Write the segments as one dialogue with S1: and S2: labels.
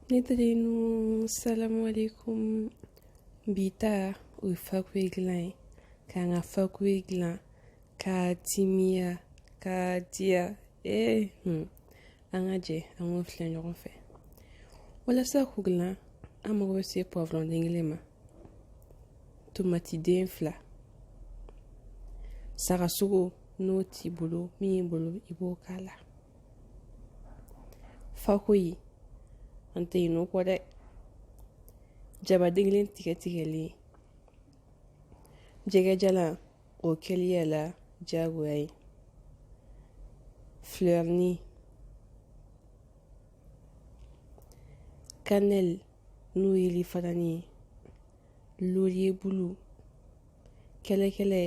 S1: Ne teri ninnu salamu alayikum bi ta o ye fakoyi dilan ye k'an ka fakoyi dilan ka timiya ka diya ee an ka jɛ an k'o filɛ ɲɔgɔn fɛ walasa k'o dilan an mago bɛ se poivron den kelen ma tomatiden fila sagasogo n'o t'i bolo min y'i bolo i b'o k'a la Fakoyi an tɛ ɲinɛ o kɔ dɛ jaba den kelen tigɛ tigɛlen jɛgɛjalan o kɛli y'a la jagoya ye filɛrini kanɛli n'o ye yirifarani ye laurier bulu kɛlɛkɛlɛ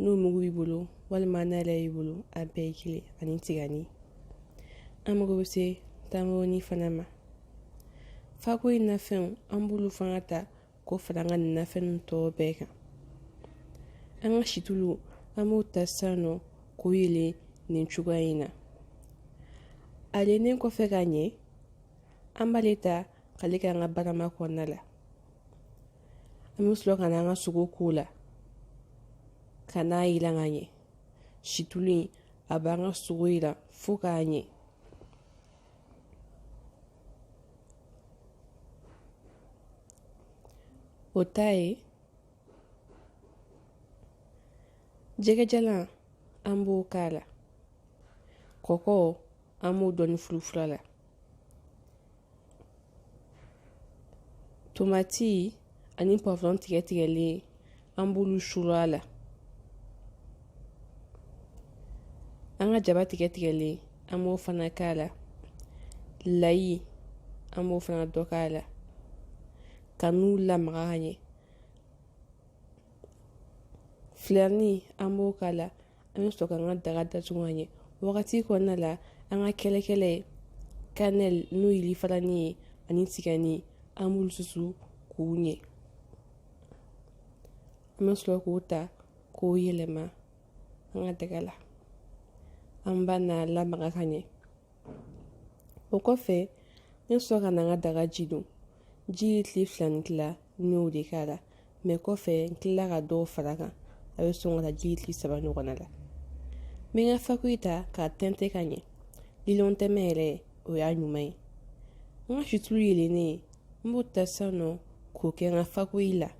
S1: n'o mugu b'i bolo walima n'a yɛrɛ y'i bolo a bɛɛ ye kelen ani tigani an mago bɛ se tamaroni fana ma fakoyi nafɛnw an b'olu fana ta k'o fara an ka nin nafɛn tɔw bɛɛ kan an ka situlu an b'o ta sisan nɔ k'o yeele nin cogoya in na a yeelelen kɔfɛ ka ɲɛ an b'ale ta k'ale kɛ an ka barama kɔnɔna la an bɛ sɔrɔ ka n'an ka sogo k'o la ka n'a yiran ka ɲɛ situlu in a b'an ka sogo yiran fo k'a ɲɛ o ta ye jɛgɛjalan an b'o k'a la kɔkɔ an b'o dɔɔni furufuru a la Tomati ani poivron tigɛ tigɛlen an b'olu suuru a la an ka jaba tigɛ tigɛlen an b'o fana k'a la layi an b'o fana dɔ k'a la ka n'u lamaga ka ɲɛ filɛrini an b'o k'a la an bɛ sɔrɔ ka an ka daga datugu ka ɲɛ wagati kɔnɔna la an ka kɛlɛkɛlɛ kanɛli n'o ye yirifarani ye ani tigani an b'olu susu k'u ɲɛ an bɛ sɔrɔ k'o ta k'o yɛlɛma an ka daga la an b'a n'a lamaga ka ɲɛ o kɔfɛ n bɛ sɔrɔ ka na an ka daga ji don ji ye litiri fila ni tila n y'o de k'a la mɛ kɔfɛ n tilala ka dɔw fara kan a bɛ sɔn ka taa ji kile saba ɲɔgɔnna la n bɛ n ka fakoyi ta k'a tɛntɛn ka ɲɛ lilɔn tɛmɛ yɛrɛ o y'a ɲuman ye n ka situlu yelennen n b'o ta sisan nɔ k'o kɛ n ka fakoyi la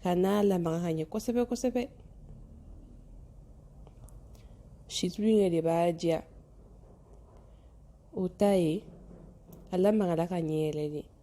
S1: ka n'a lamaga ka ɲɛ kosɛbɛ kosɛbɛ situlu in yɛrɛ de b'a diya o ta ye a lamagala ka ɲɛ yɛrɛ de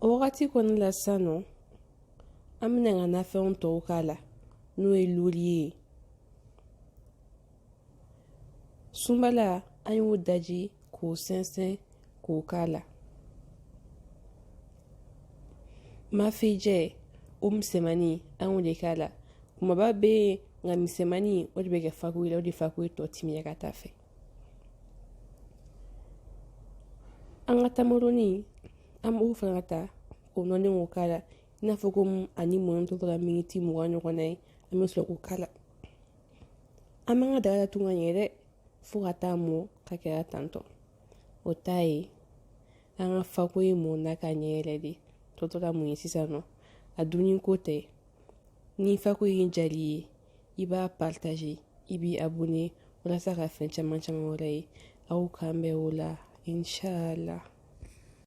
S1: o wagati kɔnɔ la sisan nɔ an bɛna an ka nafɛnw tɔw k'a la n'o ye laurier ye sunbala an y'o daji k'o sɛnsɛn k'o k'a la mafejɛ o misɛnmani an y'o de k'a la kumaba bɛ yen nka misɛnmani o de bɛ kɛ fakoyi la o de fakoyi tɔ timiya ka taa fɛ an ka tamaroni an b'o fana ka ta k'o nɔni k'o k'a la i n'a fɔ ko ani mɔni tɔ tora miniti mugan ɲɔgɔnna ye an bɛ sɔrɔ k'o k'a la an b'an ka daga datugu ka ɲɛ dɛ fo ka taa mɔ ka kɛra tantɔ o ta ye an ka fakoyi mɔna ka ɲɛ yɛrɛ de tɔ tora mun ye sisan nɔ a dunni ko tɛ ni fakoyi diyal'i ye i b'a partagé i b'i abonné walasa ka fɛn caman caman wɛrɛ ye aw k'an bɛn o la inchallah